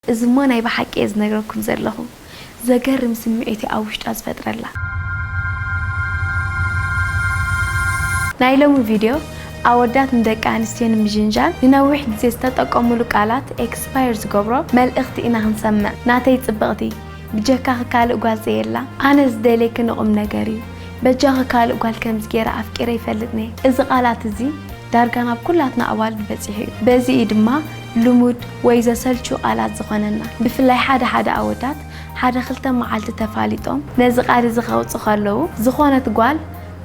እዚ እሞ ናይ ብሓቂ እየ ዝነግረኩም ዘለኹ ዘገርም ስምዒት እዩ ኣብ ውሽጣ ዝፈጥረላ። ናይ ሎሚ ቪድዮ ኣወዳት ንደቂ ኣንስትዮ ንምጅንጃን ንነዊሕ ግዜ ዝተጠቀሙሉ ቃላት ኤክስፓየር ዝገብሮ መልእኽቲ ኢና ክንሰምዕ ናተይ ጽብቕቲ ብጀካኺ ካልእ ጓል ዘየላ ኣነ ዝደልየኪ ንቁምነገር እዩ በጃኺ ካልእ ጓል ከምዚ ጌረ ኣፍቂረ ይፈልጥንየ እዚ ቃላት እዚ ዳርጋ ናብ ኩላትና ኣዋልድ በጺሑ እዩ በዚ እዩ ድማ ልሙድ ወይ ዘሰልቹ ቃላት ዝኾነና ብፍላይ ሓደ ሓደ ኣወዳት ሓደ ክልተ መዓልቲ ተፋሊጦም ነዚ ቃል እዚ ከውጽ ከለዉ ዝኾነት ጓል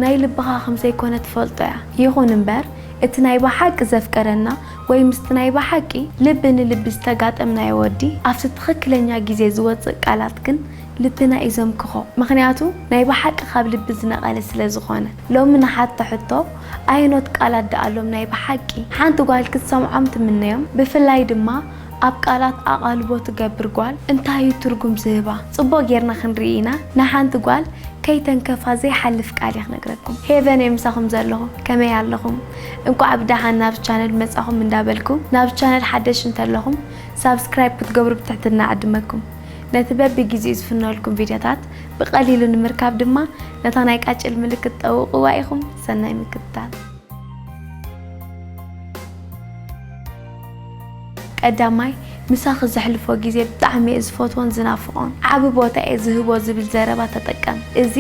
ናይ ልብኻ ከም ዘይኮነ ትፈልጦ እያ ይኹን እምበር እቲ ናይ በሓቂ ዘፍቀረና ወይ ምስቲ ናይ በሓቂ ልቢ ንልቢ ዝተጋጠምናዮ ወዲ ኣብቲ ትኽክለኛ ግዜ ዝወጽእ ቃላት ግን ልብና እዩ ዘምክኾ ምኽንያቱ ናይ በሓቂ ካብ ልቢ ዝነቐለ ስለ ዝኾነ ሎሚ ንሓቶ ሕቶ ኣየኖት ቃላት ደኣሎም ናይ ብሓቂ ሓንቲ ጓል ክትሰምዖም ትምነዮም ብፍላይ ድማ ኣብ ቃላት ኣቓልቦ ትገብር ጓል እንታይ እዩ ትርጉም ዝህባ ጽቡቕ ጌርና ክንርኢ ኢና ንሓንቲ ጓል ከይተንከፋ ዘይሓልፍ ቃል እየ ክነግረኩም ሄቨን እየ ምሳኹም ዘለኹ ከመይ ኣለኹም እንቋዕ ብደሓን ናብ ቻነል መጻኹም እንዳበልኩ ናብ ቻነል ሓደሽ እንተለኹም ሳብስክራይብ ክትገብሩ ብትሕትና እዕድመኩም። ነቲ በብጊዜኡ ዝፍነወልኩም ቪድዮታት ብቐሊሉ ንምርካብ ድማ ነታ ናይ ቃጭል ምልክት ጠውቕዋ ኢኹም። ሰናይ ምክትታል። ቀዳማይ ምሳኺ ዘሕልፎ ግዜ ብጣዕሚ እየ ዝፈትዎን ዝናፍቖን ዓቢ ቦታ እየ ዝህቦ ዝብል ዘረባ ተጠቀም። እዚ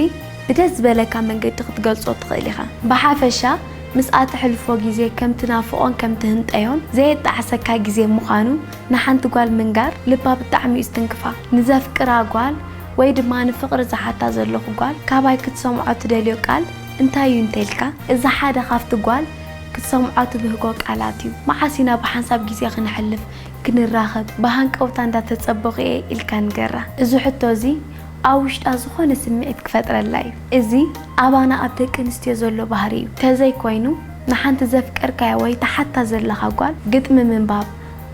ብደስ ዝበለካ መንገዲ ክትገልጾ ትኽእል ኢኻ። ብሓፈሻ ምስኣ ተሕልፎ ግዜ ከም ትናፍቖን ከም ትህንጠዮን ዘየጣዕሰካ ግዜ ምዃኑ ንሓንቲ ጓል ምንጋር ልባ ብጣዕሚ እዩ ዝትንክፋ። ንዘፍቅራ ጓል ወይ ድማ ንፍቕሪ ዝሓታ ዘለኹ ጓል ካባይ ክትሰምዖ ትደልዮ ቃል እንታይ እዩ እንተልካ እዚ ሓደ ካብቲ ጓል ክትሰምዖ ትብህጎ ቃላት እዩ። መዓስ ኢና ብሓንሳብ ግዜ ክነሕልፍ ክንራኸብ ብሃንቀውታ እንዳተጸበኹ እየ ኢልካ ንገራ። እዚ ሕቶ እዚ ኣብ ውሽጣ ዝኾነ ስምዒት ክፈጥረላ እዩ። እዚ ኣባና ኣብ ደቂ ኣንስትዮ ዘሎ ባህሪ እዩ። ተዘይኮይኑ ንሓንቲ ዘፍቀርካያ ወይ ትሓታ ዘለኻ ጓል ግጥሚ ምንባብ፣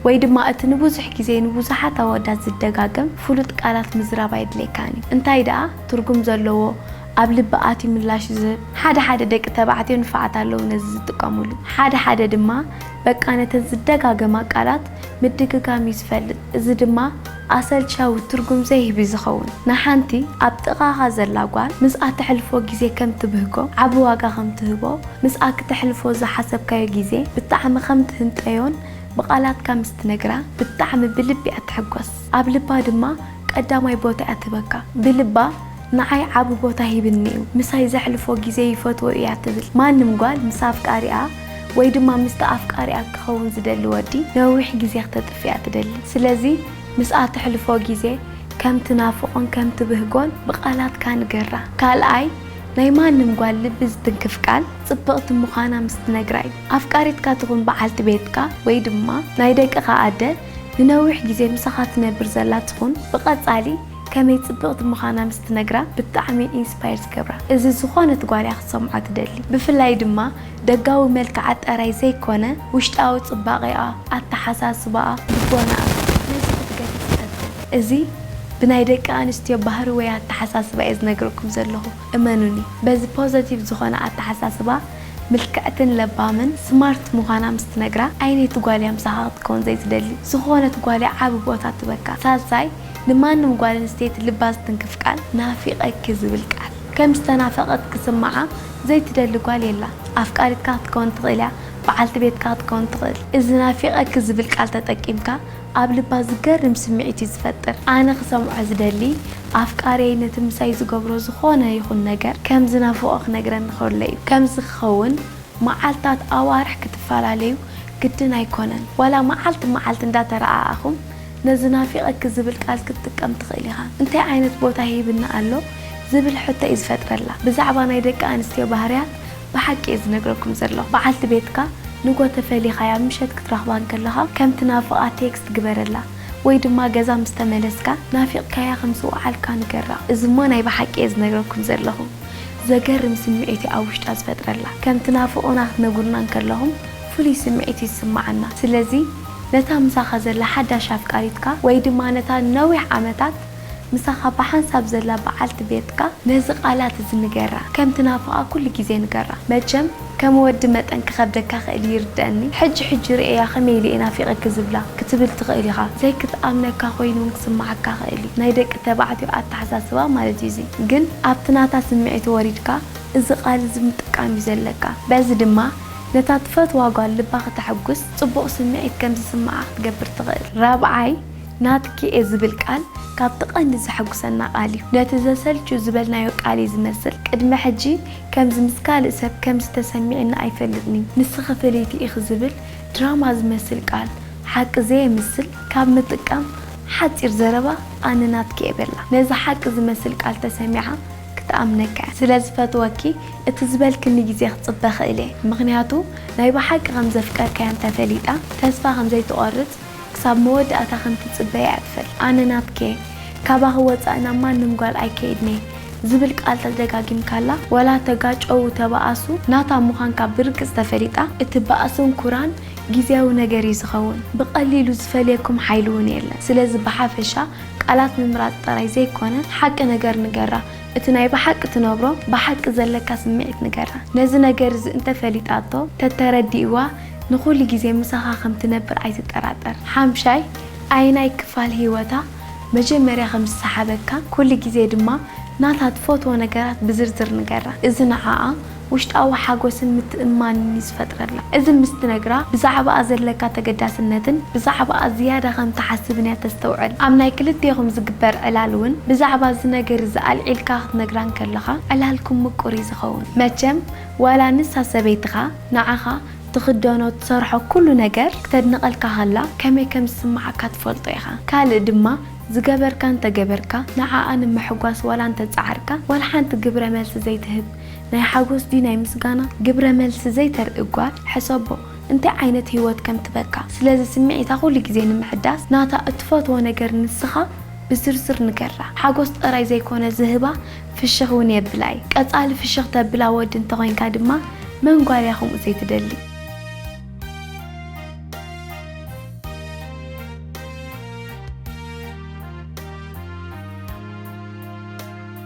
ወይ ድማ እቲ ንብዙሕ ግዜ ንብዙሓት ኣዋዳት ዝደጋገም ፍሉጥ ቃላት ምዝራብ ኣየድልየካን እዩ። እንታይ ደኣ ትርጉም ዘለዎ ኣብ ልቢ ኣትዩ ምላሽ ዝህብ። ሓደ ሓደ ደቂ ተባዕትዮ ንፋዓት ኣለዉ ነዚ ዝጥቀምሉ። ሓደ ሓደ ድማ በቃ ነተን ዝደጋገማ ቃላት ምድግጋም እዩ ዝፈልጥ። እዚ ድማ። ኣሰልቻዊ ትርጉም ዘይህብ እዩ ዝኸውን። ንሓንቲ ኣብ ጥቓኻ ዘላ ጓል ምስኣ ተሕልፎ ግዜ ከም ትብህጎ፣ ዓቢ ዋጋ ከም ትህቦ፣ ምስኣ ክተሕልፎ ዝሓሰብካዮ ግዜ ብጣዕሚ ከም ትህንጠዮን ብቓላትካ ምስ ትነግራ ብጣዕሚ ብልቢ እያ ትሕጎስ። ኣብ ልባ ድማ ቀዳማይ ቦታ እያ ትህበካ። ብልባ ንዓይ ዓቢ ቦታ ሂብኒ እዩ፣ ምሳይ ዘሕልፎ ግዜ ይፈትዎ እዩ እያ ትብል። ማንም ጓል ምስ ኣፍቃሪኣ ወይ ድማ ምስቲ ኣፍቃሪኣ ክኸውን ዝደሊ ወዲ ነዊሕ ግዜ ክተጥፍኣ ትደሊ። ስለዚ ምስኣ ተሕልፎ ግዜ ከም ትናፍቖን ከም ትብህጎን ብቓላትካ ንገራ። ካልኣይ፣ ናይ ማንም ጓል ልቢ ዝትንክፍ ቃል ጽብቕቲ ምዃና ምስ ትነግራ እዩ። ኣፍቃሪትካ ትኹን በዓልቲ ቤትካ ወይ ድማ ናይ ደቅኻ ኣደ ንነዊሕ ግዜ ምሳኻ ትነብር ዘላ ትኹን ብቐጻሊ፣ ከመይ ጽብቅቲ ምኻና ምስ ትነግራ ብጣዕሚ ኢንስፓየር ዝገብራ እዚ ዝኾነት ጓል እያ ክትሰምዖ ትደሊ ብፍላይ ድማ ደጋዊ መልክዓ ጠራይ ዘይኮነ ውሽጣዊ ጽባቄኣ ኣተሓሳስባኣ ልቦናኣ ነዚ ክትገድፍ ትፈትን እዚ ብናይ ደቂ ኣንስትዮ ባህሪ ወይ ኣተሓሳስባ እየ ዝነግረኩም ዘለኹ እመኑኒ በዚ ፖዘቲቭ ዝኾነ ኣተሓሳስባ ምልክዕትን ለባምን ስማርት ምዃና ምስ ትነግራ ዓይነይቲ ጓል እያ ምሳኻ ክትከውን ዘይትደሊ ዝኾነት ጓል እያ ዓቢ ቦታ ትበካ ሳልሳይ ንማንም ጓል ኣንስተይቲ ልባ ዝትንክፍ ቃል ናፊቐኪ ዝብል ቃል ከም ዝተናፈቐት ክስምዓ ዘይትደሊ ጓል የላን። ኣፍቃሪትካ ክትከውን ትኽእል እያ፣ በዓልቲ ቤትካ ክትከውን ትኽእል። እዚ ናፊቐኪ ዝብል ቃል ተጠቂምካ ኣብ ልባ ዝገርም ስምዒት እዩ ዝፈጥር። ኣነ ክሰምዖ ዝደሊ ኣፍቃርየይ ነቲ ምሳይ ዝገብሮ ዝኾነ ይኹን ነገር ከም ዝናፍቖ ክነግረኒ ከሎ እዩ። ከምዚ ክኸውን መዓልታት ኣዋርሕ ክትፈላለዩ ግድን ኣይኮነን። ዋላ መዓልቲ መዓልቲ እንዳተረኣኣኹም ነዚ ናፊቐኪ ዝብል ቃል ክትጥቀም ትኽእል ኢኻ። እንታይ ዓይነት ቦታ ሂብኒ ኣሎ ዝብል ሕቶ እዩ ዝፈጥረላ። ብዛዕባ ናይ ደቂ ኣንስትዮ ባህርያት ብሓቂ እየ ዝነግረኩም ዘለኹ። በዓልቲ ቤትካ ንግሆ ተፈሊኻያ ምሸት ክትረኽባ እንከለኻ ከም ትናፍቓ ቴክስት ግበረላ ወይ ድማ ገዛ ምስ ተመለስካ ናፊቕካያ ከም ዝወዓልካ ንገራ። እዚ እሞ ናይ ብሓቂ እየ ዝነግረኩም ዘለኹ ዘገርም ስምዒት እዩ ኣብ ውሽጣ ዝፈጥረላ። ከም ትናፍቑና ክትነግሩና እንከለኹም ፍሉይ ስምዒት እዩ ዝስመዓና። ስለዚ። ነታ ምሳኻ ዘላ ሓዳሽ ኣፍቃሪትካ ወይ ድማ ነታ ንነዊሕ ዓመታት ምሳኻ ብሓንሳብ ዘላ በዓልቲ ቤትካ ነዚ ቃላት እዚ ንገራ። ከም ትናፍቓ ኩሉ ግዜ ንገራ። መቸም ከም ወዲ መጠን ክኸብደካ ክእል እዩ ይርደኣኒ። ሕጂ ሕጂ ርእየያ ከመይ ኢለ እየ ናፊቐኪ ዝብላ ክትብል ትኽእል ኢኻ። ዘይክትኣምነካ ኮይኑ እውን ክስምዓካ ይኽእል እዩ። ናይ ደቂ ተባዕትዮ ኣተሓሳስባ ማለት እዩ እዚ። ግን ኣብቲ ናታ ስምዒት ወሪድካ እዚ ቃል እዚ ምጥቃም እዩ ዘለካ። በዚ ድማ ነታ ትፈትዋ ጓል ልባ ክተሕጉስ፣ ጽቡቕ ስምዒት ከም ዝስምዓ ክትገብር ትኽእል። ራብዓይ፣ ናትኪ'የ ዝብል ቃል ካብቲ ቀንዲ ዘሐጉሰና ቃል እዩ። ነቲ ዘሰልቹ ዝበልናዮ ቃል እዩ ዝመስል። ቅድሚ ሕጂ ከምዚ ምስ ካልእ ሰብ ከምዚ ተሰሚዕኒ ኣይፈልጥን'ዩ፣ ንስኺ ፍልይቲ ኢኺ ዝብል ድራማ ዝመስል ቃል ሓቂ ዘየምስል ካብ ምጥቃም ሓጺር ዘረባ ኣነ ናትኪ'የ በላ። ነዚ ሓቂ ዝመስል ቃል ተሰሚዓ፣ ክትኣምነከ ስለ ዝፈትወኪ እቲ ዝበልክኒ ግዜ ክጽበ ክእል እየ ምክንያቱ ናይ ብሓቂ ከም ዘፍቀርካያ እንተ ፈሊጣ ተስፋ ከም ዘይትቆርጽ ክሳብ መወዳእታ ከም ትጽበ እያ ትፈል ኣነ ናትኪየ ካባኪ ወጻኢ ናብ ማንም ጓል ኣይከይድንየ ዝብል ቃል ተደጋጊምካላ ወላ ተጋጨዉ ተባኣሱ ናታ ምኳንካ ብርግጽ ተፈሊጣ እቲ ባእስን ኩራን ግዝያዊ ነገር እዩ ዝከዉን ብቀሊሉ ዝፈልየኩም ሓይሊ ዉን የለን ስለዚ ብሓፈሻ ቃላት ምምራጽ ጥራይ ዘይኮነ ሓቂ ነገር ንገራ እቲ ናይ ብሓቂ ትነብሮ ብሓቂ ዘለካ ስምዒት ንገራ ነዚ ነገር እዚ እንተ ፈሊጣቶ ተተረዲእዋ ንኩሉ ግዜ ምሳካ ከም ትነብር ኣይትጠራጠር ሓምሻይ ኣየናይ ክፋል ሂወታ መጀመርያ ከም ዝሰሓበካ ኩሉ ግዜ ድማ ናታ ትፈትዎ ነገራት ብዝርዝር ንገራ እዚ ንዓኣ ውሽጣዊ ሓጎስን ምትእምማንን እዩ ዝፈጥረላ። እዚ ምስ ትነግራ ብዛዕባኣ ዘለካ ተገዳስነትን ብዛዕባኣ ዝያዳ ከም ትሓስብን እያ ተስተውዕል። ኣብ ናይ ክልቴኹም ዝግበር ዕላል እውን ብዛዕባ እዚ ነገር እዚ ኣልዒልካ ክትነግራ እንከለኻ ዕላልኩም ምቁር እዩ ዝኸውን። መቸም ዋላ ንሳ ሰበይትኻ ንዓኻ ትኽደኖ ትሰርሖ ኩሉ ነገር ክተድንቐልካ ከላ ከመይ ከም ዝስምዓካ ትፈልጦ ኢኻ። ካልእ ድማ ዝገበርካ እንተገበርካ ንዓኣ ንምሕጓስ ዋላ እንተጸዓርካ ዋላ ሓንቲ ግብረ መልሲ ዘይትህብ። ናይ ሓጎስ ድዩ ናይ ምስጋና ግብረ መልሲ ዘይተርኢ ጓል ሕሰቦ እንታይ ዓይነት ሂወት ከም ትበካ ስለዚ ስምዒታ ኩሉ ግዜ ንምሕዳስ ናታ እትፈትዎ ነገር ንስካ ብዝርዝር ንገራ ሓጎስ ጥራይ ዘይኮነ ዝህባ ፍሽክ ውን የብላ እዩ ቀጻሊ ፍሽክ ተብላ ወዲ እንተኮይንካ ድማ መን ጓል እያ ከምኡ ዘይትደሊ።